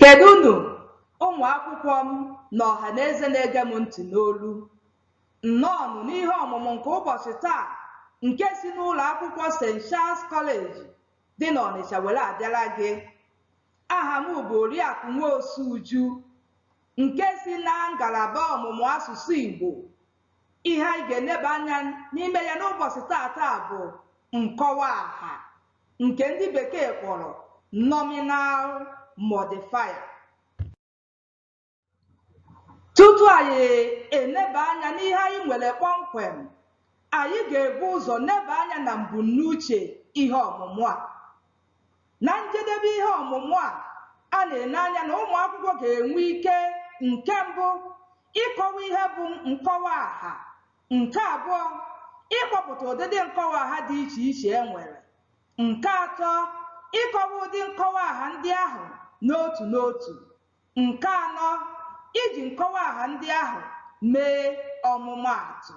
Kedụnụ ụmụ akwụkwọ m na ọha na eze na-ege m ntị n'olu. Nnọọnụ n'ihe ọmụmụ nke ụbọchị taa nke si n'ụlọ akwụkwọ St. Charles College dị n'Ọnịcha were abịara gị. Aha m bụ Oriakụ Nwosu Uju nke si na ngalaba ọmụmụ asụsụ Igbo Ihe anyị ga-eneba anya n'ime ya n'ụbọchị taata bụ nkọwa aha nke ndị bekee kpọrọ nominal modifier. Tutu anyị eneba anya n'ihe anyị nwere kpọmkwem, anyị ga-ebu ụzọ neba anya na mbunuche ihe ọmụmụ a. Na njedebe ihe ọmụmụ a, a na-ene anya na ụmụ akwụkwọ ga-enwe ike, nke mbụ, ịkọwa ihe bụ nkọwa aha, nke abụọ, ịkpọpụta ụdịdị nkọwa aha dị iche iche e nwere, nke atọ, ịkọwa ụdị nkọwa aha ndị ahụ n'otu n'otu, nke anọ, iji nkọwa aha ndị ahụ mee ọmụmaatụ.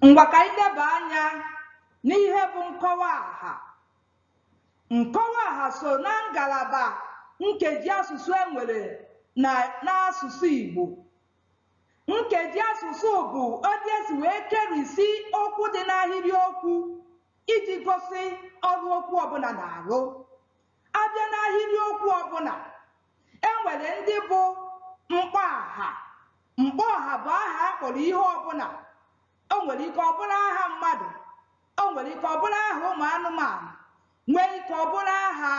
Ngwa ka anyị neba anya n'ihe bụ nkọwa aha. Nkọwa aha so na ngalaba nkeji asụsụ e nwere na n'asụsụ Igbo. Nkeji asụsụ bụ otu e si wee kerisi okwu dị n'ahịrị okwu iji gosi ọrụ okwu ọbụla na-arụ. A bịa n'ahịrị okwu ọbụla, E nwere ndị bụ mkpọaha. Mkpọaha bụ aha a kpọrọ ihe ọbụla. O nwere ike ọ bụrụ aha mmadụ, o nwere ike ọ bụrụ aha ụmụ anụmanụ, nwee ike ọ bụrụ aha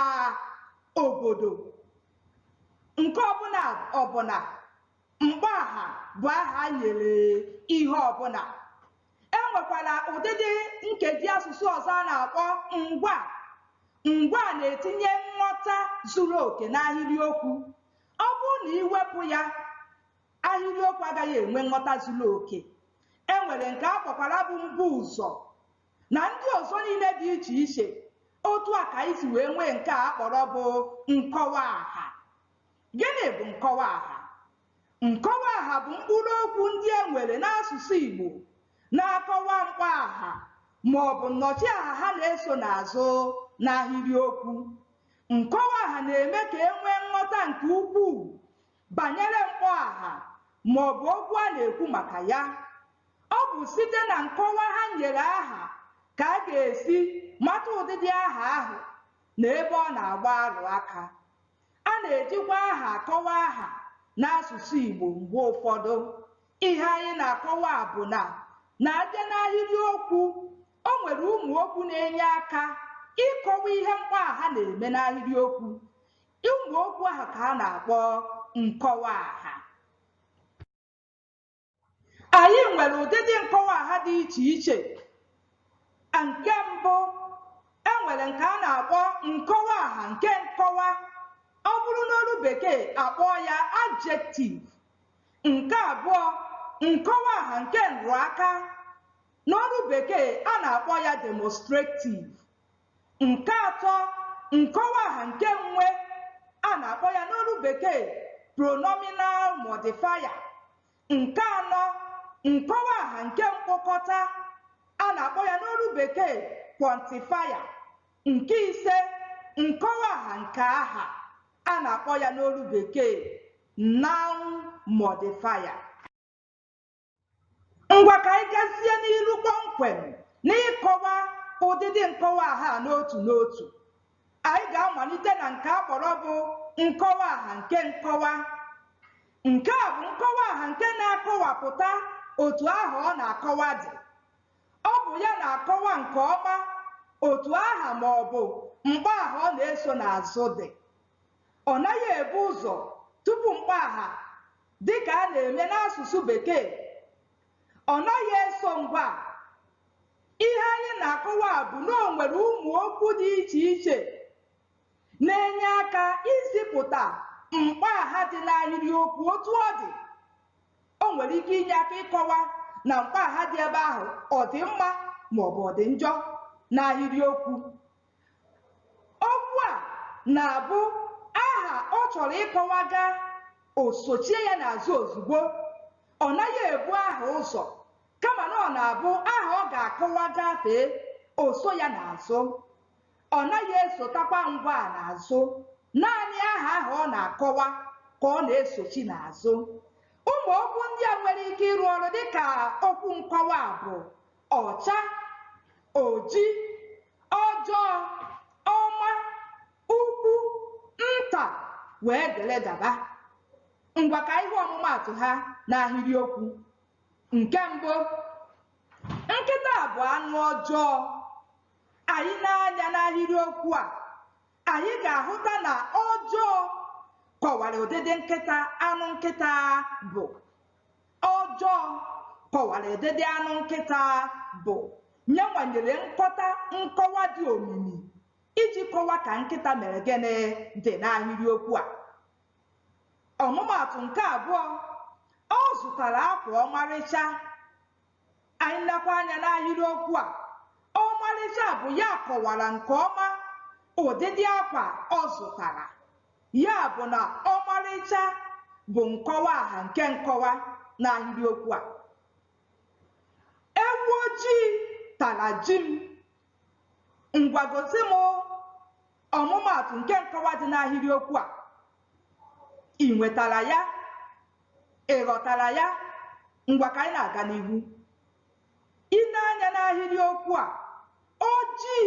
obodo. Nke ọbụla ọbụla, mkpọaha bụ aha e nyere ihe ọbụla. E nwekwara ụdịdị nkeji asụsụ ọzọ a na-akpọ ngwaa. Ngwaa na-etinye nghọta zuru oke n'ahịrịokwu. Ọ bụrụ na i wepụ ya, ahịrịokwu agaghị enwe nghọta zuru oke. E nwere nke a kpọkwara bụ mbuụzọ na ndị ọzọ niile dị iche iche. Otu a ka anyị si wee nwee nke a kpọrọ bụ nkọwa aha. Gịnị bụ nkọwa aha? Nkọwaaha bụ mkpụrụokwu ndị e nwere n'asụsụ Igbo na-akọwa mkpọaha maọbụ nnọchiaha ha na-eso n'azụ n'ahịrịokwu. Nkọwaaha na-eme ka e nwee nghọta nke ukwuu banyere mkpọaha maọbụ okwu a na-ekwu maka ya. Ọ bụ site na nkọwa ha nyere aha ka a ga-esi mata ụdịdị aha ahụ na ebe ọ na-agba arụ aka. A na-ejikwa aha akọwa aha n'asụsụ Igbo mgbe ụfọdụ. Ihe anyị na-akọwa bụ na na a bịa n'ahịrị okwu, o nwere ụmụ okwu na-enye aka ịkọwa ihe mkpọaha na-eme n'ahịrị okwu. Ụmụ okwu ahụ ka a na-akpọ nkọwa aha. anyị nwere ụdịdị nkọwa aha dị iche iche nke mbụ e nwere nke a na-akpọ nkọwa aha nke nkọwa ọ bụrụ n'olu bekee a kpọọ ya adjective nke abụọ nkọwa aha nke nrụaka n'olu bekee a na-akpọ ya demonstrative Nke atọ, nkọwaaha nke nwe a na-akpọ ya n'olu Bekee pronominal modifier. Nke anọ, nkọwaaha nke mkpokọta a na-akpọ ya n'olu Bekee quantifier. Nke ise, nkọwaaha nke aha a na-akpọ ya n'olu Bekee noun modifier. Ngwa ka anyị gazie n'iru kpọmkwem n'ịkọwa ụdịdị nkọwaaha a n'otu n'otu. Anyị ga-amalite na nke a kpọrọ bụ nkọwaaha nke nkọwa. Nke a bụ nkọwaaha nke na-akọwapụta otu aha ọ na-akọwa dị. Ọ bụ ya na-akọwa nke ọma otu aha ma ọ bụ mkpọaha ọ na-eso n'azụ dị. Ọ naghị ebu ụzọ tupu mkpọaha dị ka a na-eme n'asụsụ Bekee. Ọ naghị eso ngwaa. Ihe anyị na-akọwa bụ na o nwere ụmụ okwu dị iche iche na-enye aka izipụta mkpọaha dị n'ahịrịokwu otu ọ dị. O nwere ike inye aka ịkọwa na mkpọaha dị ebe ahụ ọ dị mma maọbụ ọ dị njọ n'ahịrịokwu. Okwu a na-abụ aha ọ chọrọ ịkọwa gaa, o sochie ya n'azụ ozugbo. Ọ naghị ebu aha ụzọ kama na ọ na-abụ aha ọ ga-akọwa gafee, o so ya n'azụ. Ọ naghị esotakwa ngwaa n'azụ. Naanị aha ahụ ọ na-akọwa ka ọ na-esochi n'azụ. Ụmụ okwu ndị a nwere ike ịrụ ọrụ dị ka okwu nkọwa bụ ọcha oji ọjọọ ọma ukwu nta wee dere gaba ngwa ka ihe ọmụmaatụ ha n'ahịrịokwu nke mbụ nkịta bụ anụ ọjọọ anyị lee anya n'ahịrịokwu a anyị ga-ahụta na ọjọọ kọwara ụdịdị nkịta anụ nkịta bụ ọjọọ kọwara ụdịdị anụ nkịta bụ nya nwa nyere nkọta nkọwa dị omimi iji kọwa ka nkịta mere gịnị dị n'ahịrịokwu a ọmụmaatụ nke abụọ ọ zụtara akwa ọmarịcha anyị lekwa anya n'ahịrịokwu a ọmarịcha bụ ya kọwara nke ọma ụdịdị akwa ọ zụtara ya bụ na ọmarịcha bụ nkọwa aha nke nkọwa n'ahịrịokwu a ewu ojii tara ji m ngwa gosi m ọmụmaatụ nke nkọwa dị n'ahịrịokwu a i nwetara ya Ị ghọtara ya? Ngwa ka anyị na-aga n'ihu. I nee anya n'ahịrịokwu a, ojii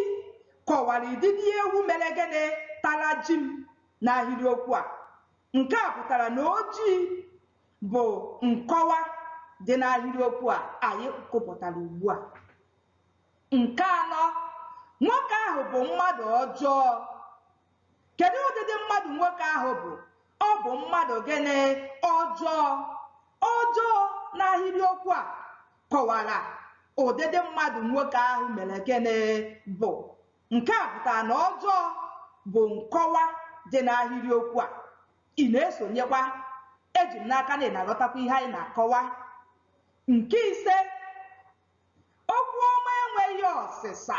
kọwara ụdịdị ewu mere gịnị? Tara ji m n'ahịrịokwu a. Nke a pụtara na ojii bụ nkọwa dị n'ahịrịokwu a anyị gụpụtara ugbu a. Nke anọ, nwoke ahụ bụ mmadụ ọjọọ. Kedụ ụdịdị mmadụ nwoke ahụ bụ? Ọ bụ mmadụ gịnị? Ọjọọ. Ọjọọ n'ahịrịokwu a kọwara ụdịdị mmadụ nwoke ahụ mere gịnị bụ. Nke a pụtara na ọjọọ bụ nkọwa dị n'ahịrịokwu a. Ị na-esonyekwa? Eji m n'aka na ị na-aghọtakwa ihe anyị na-akọwa. Nke ise, Okwu ọma enweghị ọsịsa.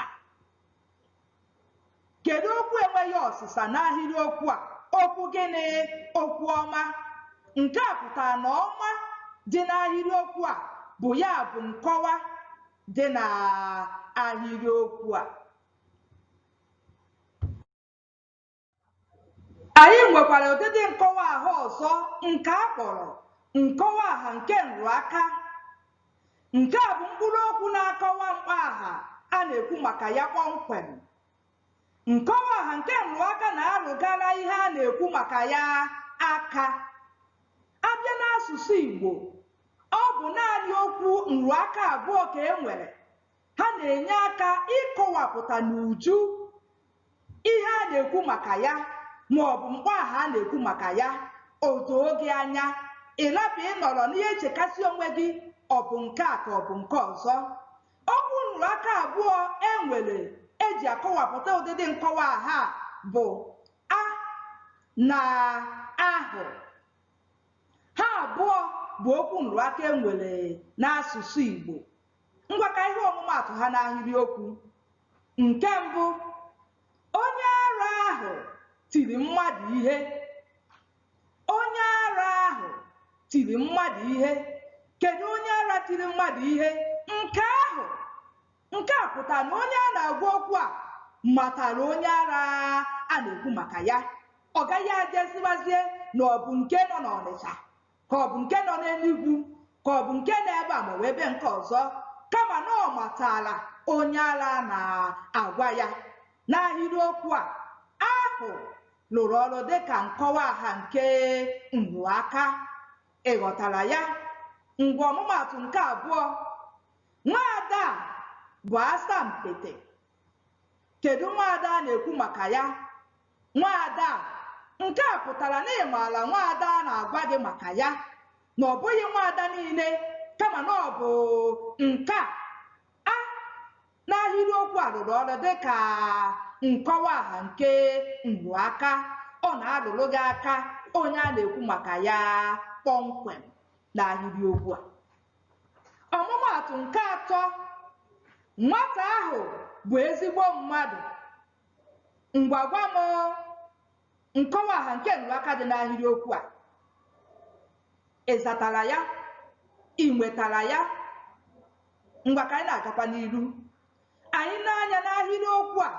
Kedu okwu enweghị ọsịsa n'ahịrị okwu a? Okwu gịnị? Okwu ọma. Nke a pụtara na ọma dị n'ahịrị okwu a bụ ya bụ nkọwa dị n'ahịrị okwu a. Anyị nwekwara ụdịdị nkọwa aha ọzọ nke a kpọrọ nkọwa aha nke nrụaka. Nke a bụ mkpụrụ okwu na-akọwa mkpọaha a na-ekwu maka ya kpọmkwem. Nkọwa aha nke nrụaka na-arụgara ihe a na-ekwu maka ya aka. A bịa n'asụsụ Igbo, ọ bụ naanị okwu nrụaka abụọ ka e nwere, Ha na-enye aka ịkọwapụta n'uju ihe a na-ekwu maka ya ma ọ bụ mkpọaha a na-ekwu maka ya o doo gị anya ị rapụ ịnọrọ n'ihe echekasị onwe gị ọ bụ nke a ka ọ bụ nke ọzọ okwu nrụrụ aka abụọ e nwere e ji akọwapụta ụdịdị nkọwa aha a bụ a na ahụ ha abụọ bụ okwu nrụrụ aka e nwere n'asụsụ Igbo Ngwa ka ihe ọmụmaatụ ha n'ahịrịokwu. Nke mbụ, onye ara ahụ tiri mmadụ ihe. Onye ara ahụ tiri mmadụ ihe. Kedụ onye ara tiri mmadụ ihe? Nke ahụ. Nke a pụtara na onye a na-agwa okwu a matara onye ara a na-ekwu maka ya. Ọ gaghị ajụziwazie na ọ bụ nke nọ n'Ọnịcha ka ọ bụ nke nọ n'Enugwu ka ọ bụ nke nọ ebe a ma ọ bụ ebe nke ọzọ kama na ọ matala onye ara a na-agwa ya n'ahịrịokwu a ahụ lụrụ ọrụ dịka nkọwa aha nke nrụaka ị ghọtara ya ngwa ọmụmaatụ nke abụọ nwaada a bụ asampete kedu nwaada a na-ekwu maka ya Nwaada a, Nke a pụtara na ị maara nwaada a na-agwa gị maka ya, na ọ bụghị nwaada niile kama na ọ bụ nke a. A N'ahịrịokwu a rụrụ ọrụ dị ka nkọwa aha nke nrụaka. Ọ na-arụrụ gị aka onye a na-ekwu maka ya kpọmkwem n'ahịrịokwu a. Ọmụmaatụ nke atọ, Nwata ahụ bụ ezigbo mmadụ. Ngwa gwa m nkọwa aha nke nrụaka dị n'ahịrịokwu a. Ị zatara ya? I nwetara ya? Ngwa ka anyị na-agakwa n'iru. Anyị nee anya n'ahịrịokwu a,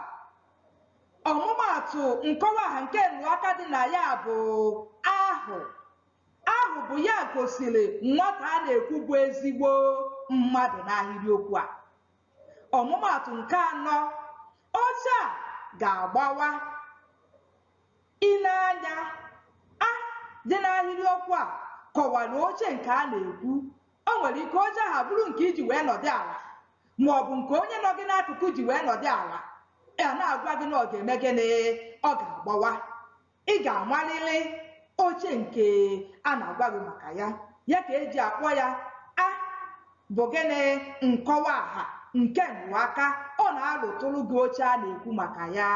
ọmụmaatụ nkọwa aha nke nrụaka dị na ya bụ ahụ. Ahụ bụ ya gosiri nwata a na-ekwu bụ ezigbo mmadụ n'ahịrịokwu a. Ọmụmaatụ nke anọ, Oche a ga-agbawa. I nee anya, a dị n'ahịrịokwu a kọwara oche nke a na-ekwu. O nwere ike oche ahụ abụrụ nke i ji wee nọdụ ala ma ọ bụ nke onye nọ gị n'akụkụ ji wee nọdụ ala. A na-agwa gị na ọ ga-eme gịnị? Ọ ga-agbawa. ị ga-amarịrị oche nke a na-agwa gị maka ya ya ka e ji akpọ ya a bụ gịnị nkọwa aha nke nrụaka ọ na-arụtụrụ gị oche a na-ekwu maka ya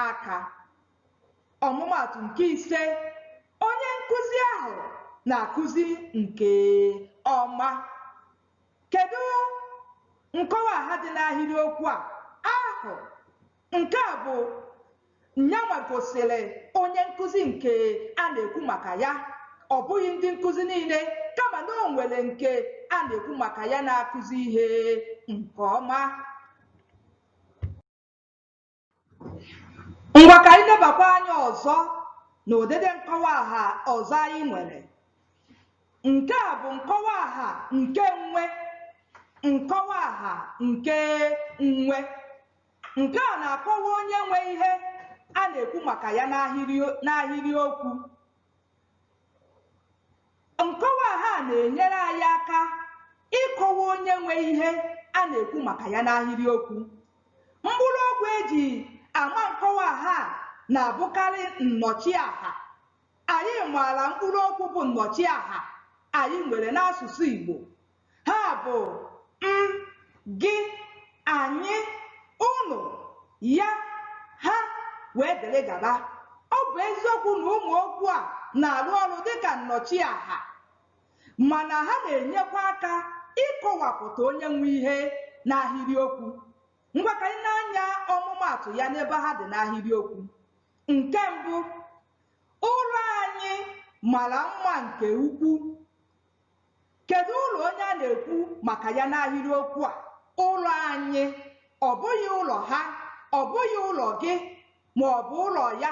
aka ọmụmaatụ nke ise onye nkụzi ahụ na-akụzi nke ọma kedu nkọwa aha dị n'ahịrịokwu a ahụ Nke a bụ nyanwa gosiri onye nkụzi nke a na-ekwu maka ya. Ọ bụghị ndị nkụzi niile kama na o nwere nke a na-ekwu maka ya na-akụzi ihe nke ọma. Ngwa ka anyị lebakwa anya ọzọ na ụdịdị nkọwa aha ọzọ anyị nwere. Nke a bụ nkọwa aha nke nwe, nkọwa aha nke nwe. Nke a na-akọwa onye nwe ihe a na-ekwu maka ya n'ahịrịokwu. Nkọwa aha na-enyere anyị aka ịkọwa onye nwe ihe a na-ekwu maka ya n'ahịrịokwu. Mkpụrụokwu e ji ama nkọwa aha na-abụkarị nnọchiaha. Anyị maara mkpụrụokwu bụ nnọchiaha anyị nwere n'asụsụ Igbo. ha bụ m gị anyị ụnụ ya ha wee dịrị gaba ọ bụ eziokwu na ụmụ okwu a na-arụ ọrụ dịka nnọchiaha mana ha na-enyekwa aka ịkọwapụta onye nwe ihe n'ahịrịokwu ngwa ka anyị nee anya ọmụmaatụ ya n'ebe ha dị n'ahịrịokwu nke mbụ ụlọ anyị mara mma nke ukwu Kedụ ụlọ onye a na-ekwu maka ya n'ahịrịokwu a? Ụlọ anyị, ọ bụghị ụlọ ha, ọ bụghị ụlọ gị ma ọ bụ ụlọ ya,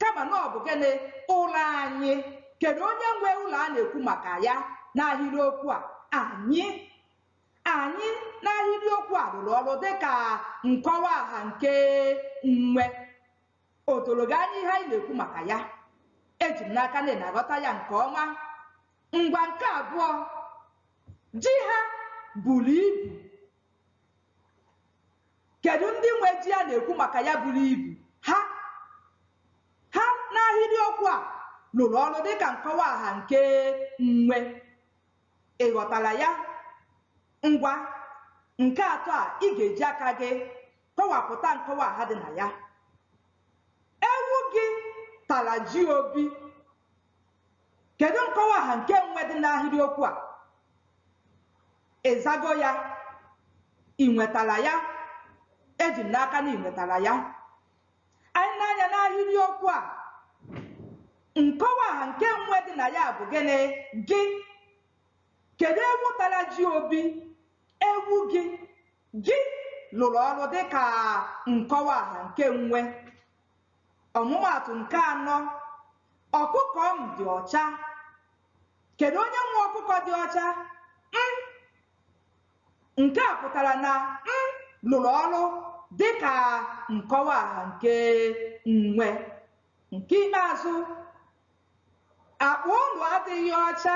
kama na ọ bụ gịnị? Ụlọ anyị. Kedụ onye nwe ụlọ a na-ekwu maka ya n'ahịrịokwu a? Anyị. Anyị n'ahịrịokwu a rụrụ ọrụ dịka nkọwaaha nke nwe. o doro gị anya ihe anyị na-ekwu maka ya eji m n'aka na ị na-aghọta ya nke ọma ngwa nke abụọ ji ha buru ibu kedu ndị nwe ji a na-ekwu maka ya buru ibu ha ha n'ahịrịokwu a rụrụ ọrụ dịka nkọwa aha nke nwe ị ghọtara ya ngwa nke atọ a ị ga-eji aka gị kọwapụta nkọwa aha dị na ya ewu gị tara ji obi kedu nkọwa aha nke nwe dị n'ahịrịokwu a ị zago ya ị nwetara ya eji m n'aka na ị nwetara ya anyị nee anya n'ahịrịokwu a nkọwa aha nke nwe dị na ya bụ gịnị gị kedu ewu tara ji obi ewu gị Gị lụrụ ọrụ dị ka nkọwa aha nke nwe. Ọmụmaatụ nke anọ, Ọkụkọ m dị ọcha. Kedu onye nwe ọkụkọ dị ọcha? M. Nke a pụtara na m lụrụ ọrụ dị ka nkọwa aha nke nwe. Nke ikpeazụ, Akpa ụnụ adịghị ọcha.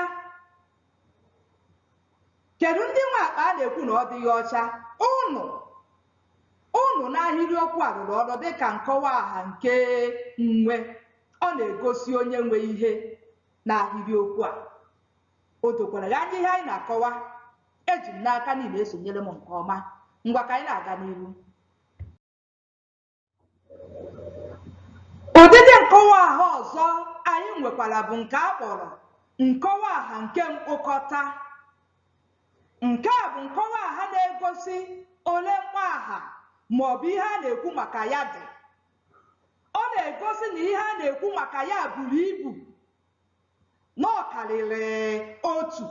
Kedụ ndị nwe akpa a na-ekwu na ọ dịghị ọcha? Ụnụ. Ụnụ n'ahịrịokwu a rụrụ ọrụ dịka nkọwa aha nke nwe. Ọ na-egosi onye nwe ihe n'ahịrịokwu a. O dokwara gị anya ihe anyị na-akọwa? Eji m n'aka na ị na-esonyere m nke ọma. Ngwa ka anyị na-aga n'ihu. Ụdịdị nkọwa aha ọzọ anyị nwekwara bụ nke a kpọrọ nkọwa aha nke mkpokọta. Nke a bụ nkọwa aha na-egosi ole mkpọ aha ma ọ bụ ihe a na-ekwu maka ya dị. Ọ na-egosi na ihe a na-ekwu maka ya buru ibu na ọ karịrị otu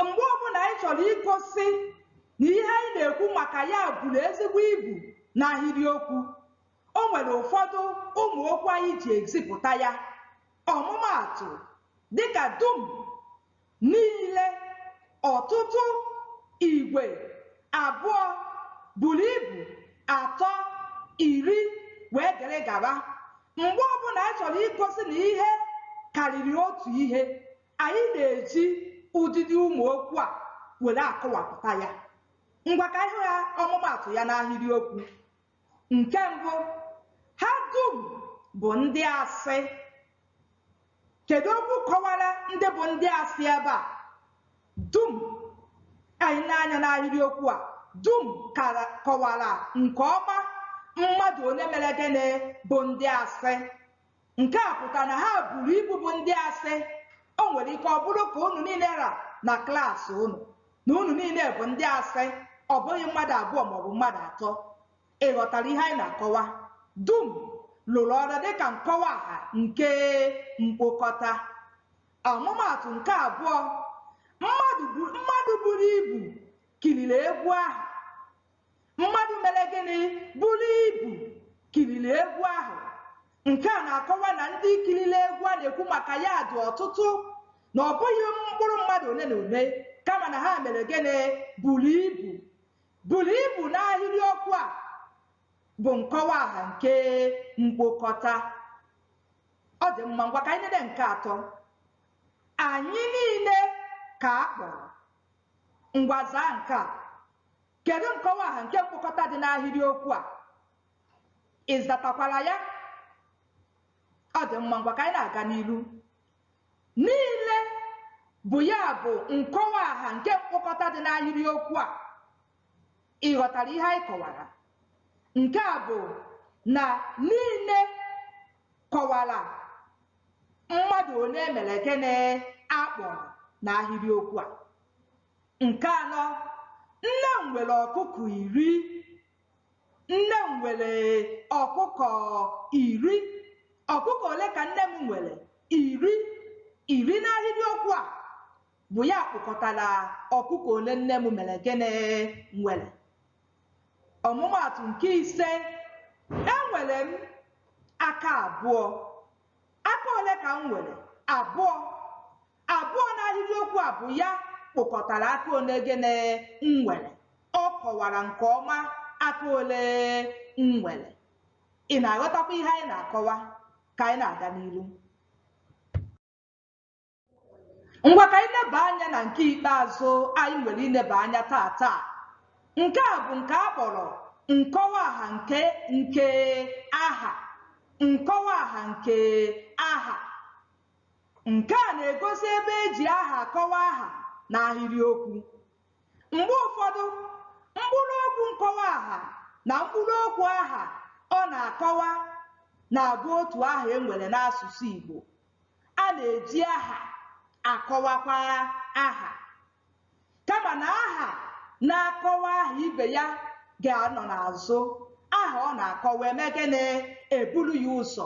mgbe ọbụla anyị chọrọ igosi na ihe anyị na-ekwu maka ya buru ezigbo ibu n'ahịrịokwu o nwere ụfọdụ ụmụ okwu anyị ji ezipụta ya ọmụmaatụ dịka dum niile ọtụtụ igwe abụọ buru ibu atọ iri wee dere gaba mgbe ọbụla anyị chọrọ igosi na ihe karịrị otu ihe anyị na-eji ụdịdị ụmụ okwu a were akọwapụta ya ngwa ka ihe ya ọmụmaatụ ya n'ahịrịokwu Nke mbụ, ha dum bụ ndị asị. Kedu okwu kọwara ndị bụ ndị asị ebe a? Dum. Anyị lee anya n'ahịrịokwu a, dum kọwara nke ọma mmadụ ole mere gịnị bụ ndị asị. Nke a pụtara na ha buru ibu bụ ndị asị. O nwere ike ọ bụrụ ka unu niile ra na klas unu na unu niile bụ ndị asị, ọ bụghị mmadụ abụọ maọbụ mmadụ atọ. Ị ghọtara ihe anyị na-akọwa? Dum lụrụ ọrụ dịka nkọwa aha nke mkpokọta. Ọmụmaatụ nke abụọ, mmadụ buru ibu kiriri egwu ahụ. mmadụ mere gịnị buru ibu kiriri egwu ahụ nke a na-akọwa na ndị kiriri egwu a na-ekwu maka ya dị ọtụtụ na ọ bụghị mkpụrụ mmadụ ole na ole kama na ha mere gịnị buru ibu buru ibu n'ahịrị okwu a bụ nkọwa aha nke mkpokọta ọ dị mma ngwa ka anyị na-ede nke atọ anyị niile ka a kpọrọ Ngwa zaa nke a. Kedu nkọwaaha nke mkpokọta dị n'ahịrịokwu a? Ị zatakwara ya? Ọ dị mma, ngwa ka anyị na-aga n'iru. Niile bụ ya bụ nkọwaaha nke mkpokọta dị n'ahịrịokwu a. Ị ghọtara ihe anyị kọwara? Nke a bụ na niile kọwara mmadụ ole mere gịnị a kpọrọ n'ahịrịokwu a nke anọ nne m nwere ọkụkọ iri nne m nwere ọkụkọ iri ọkụkọ ole ka nne m nwere iri iri n'ahịrịokwu a bụ ya kpokọtara ọkụkọ ole nne m mere gịnị nwere Ọmụmaatụ nke ise, Enwere m aka abụọ. Aka ole ka m nwere? Abụọ. Abụọ n'ahịrịokwu a bụ ya kpokọtara aka ole gịnị m nwere. Ọ kọwara nke ọma aka ole m nwere. Ị na-aghọtakwa ihe anyị na-akọwa ka anyị na-aga n'iru? ngwa ka anyị leba anya na nke ikpeazụ anyị nwere ileba anya taa taa nke a bụ nke a kpọrọ nkọwa aha nke nke aha nkọwa aha nke aha nke a na-egosi ebe e ji aha akọwa aha n'ahịrịokwu mgbe ụfọdụ mkpụrụ okwu nkọwa aha na mkpụrụ okwu aha ọ na-akọwa na-abụ otu aha e nwere n'asụsụ Igbo a na-eji aha akọwakwa aha kama na aha na-akọwa aha ibe ya ga-anọ n'azụ aha ọ na-akọwa eme gịnị eburu ya ụzọ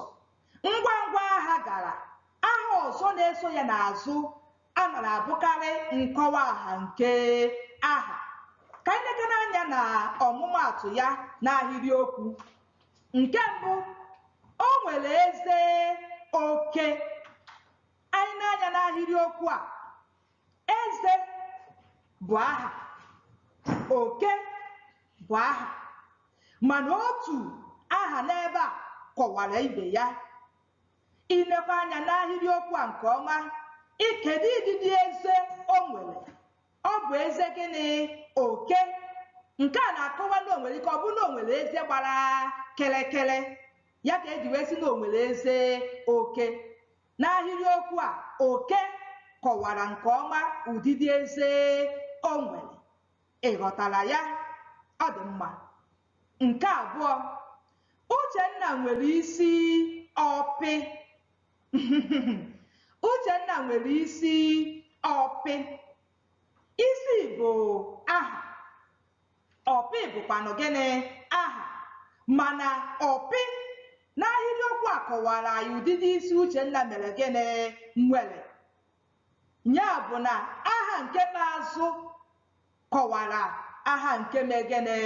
ngwa ngwa aha gara aha ọzọ na-eso ya n'azụ a na-abụkarị nkọwa aha nke aha ka anyị lekwanụ anya na ọmụmaatụ ya n'ahịrịokwu nke mbụ o nwere eze oke anyị lee anya n'ahịrịokwu a eze bụ aha oke bụ aha mana otu aha n'ebe a kọwara ibe ya I lekwa anya n'ahịrịokwu a nke ọma, ị kedụ ụdịdị eze o nwere? Ọ bụ eze gịnị? Oke. Nke a na-akọwa na o nwere ike ọ bụ na o nwere eze gbara kịrịkịrị. Ya ka e ji wee sị na o nwere eze oke. N'ahịrịokwu a, oke kọwara nke ọma ụdịdị eze o nwere. Ị ghọtara ya? Ọ dị mma. Nke abụọ, Uchenna nwere isi ọpị. Uchenna nwere isi ọpị. Isi bụ aha. Ọpị bụkwanụ gịnị? Aha. Mana ọpị n'ahịrịokwu a kọwara anyị ụdịdị isi Uchenna mere gịnị? Nwere. Ya bụ na aha nke n'azụ kọwara aha nke mee gịnị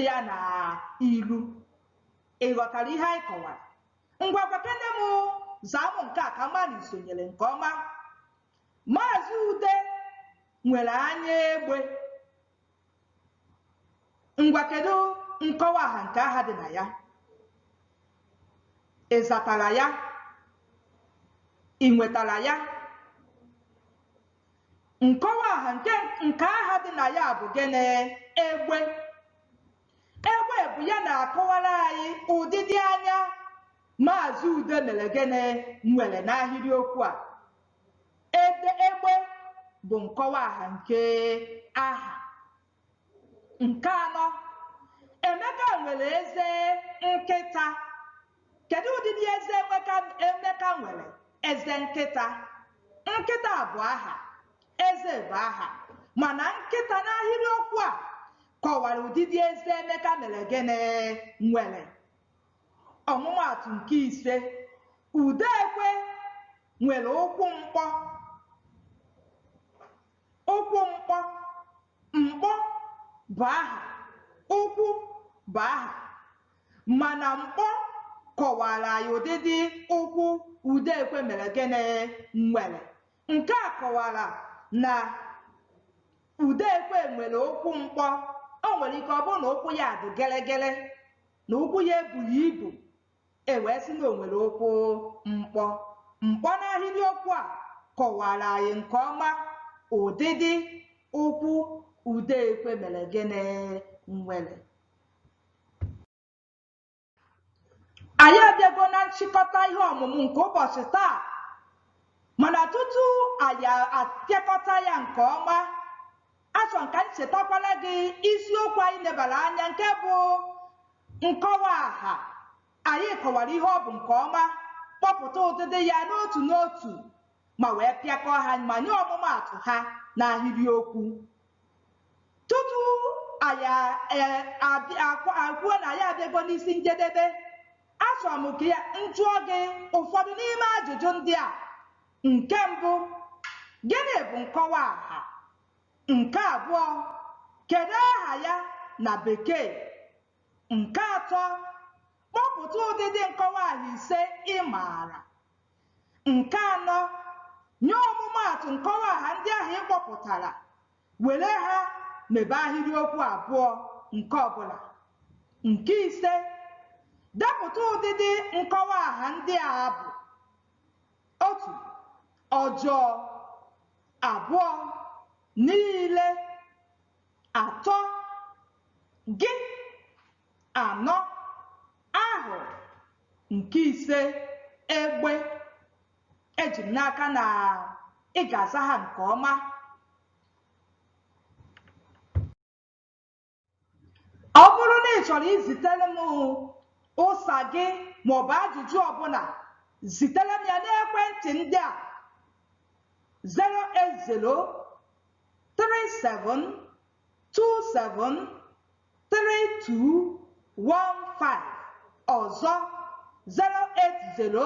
ya n'iru ị ghọtara ihe anyị kọwara ngwa gwakene m zaa m nke a ka m ma na i sonyere nke ọma maazị ude nwere anya egbe ngwa kedu nkọwa aha nke aha dị na ya ị zatara ya ị nwetara ya nkọwa aha nke aha dị na ya bụ gịnị egbe egbe bụ ya na-akọwara anyị ụdịdị anya maazị ude mere gịnị nwere n'ahịrịokwu a Ede egbe bụ nkọwa aha nke aha. Nke anọ, Emeka nwere eze nkịta. Kedu ụdịdị eze Emeka nwere? Eze nkịta. Nkịta bụ aha, eze bụ aha, mana nkịta n'ahịrịokwu a kọwara ụdịdị eze Emeka mere gịnị nwere. Ọmụmaatụ nke ise, Udoekwe nwere ụkwụ mkpọ. Ụkwụ mkpọ, mkpọ bụ aha, ụkwụ bụ aha. Mana mkpọ kọwara anyị ụdịdị ụkwụ Udoekwe mere gịnị nwere. Nke a kọwara na Udoekwe nwere ụkwụ mkpọ. O nwere ike ọ bụrụ na ụkwụ ya dị gịrịgịrị, na ụkwụ ya ebughị ibu e wee sị na o nwere ụkwụ mkpọ mkpọ n'ahịrịokwu a kọwara anyị nke ọma ụdịdị ụkwụ udoekwe mere gịnị nwere anyị abịago na nchịkọta ihe ọmụmụ nke ụbọchị taa mana tutu anyị apịakọta ya nke ọma Achọrọ m ka m chetakwara gị isiokwu anyị lebara anya nke bụ nkọwa aha. Anyị kọwara ihe ọ bụ nke ọma, kpọpụta ụdịdị ya n'otu n'otu ma wee pịakọọ ha ma nye ọmụmaatụ ha n'ahịrịokwu. Tutu anyị ekwuo na anyị abịago n'isi njedebe, achọrọ m ka m jụọ gị ụfọdụ n'ime ajụjụ ndị a Nke mbụ, gịnị bụ nkọwa aha? Nke abụọ, kedụ aha ya na Bekee? Nke atọ, kpọpụta ụdịdị nkọwa aha ise ị maara. Nke anọ, nye ọmụmaatụ nkọwa aha ndị ahụ ị kpọpụtara, were ha mebe ahịrịokwu abụọ nke ọbụla. Nke ise, depụta ụdịdị nkọwa aha ndị a abụ. Otu, ọjọọ. Abụọ, niile. Atọ, gị. Anọ, ahụ. Nke ise, egbe. Eji m n'aka na ị ga-aza ha nke ọma. ọ bụrụ na ị chọrọ izitere m ụsa gị maọbụ ajụjụ ọbụla zitere m ya n'ekwentị ndị a 08037273215 ọzọ 080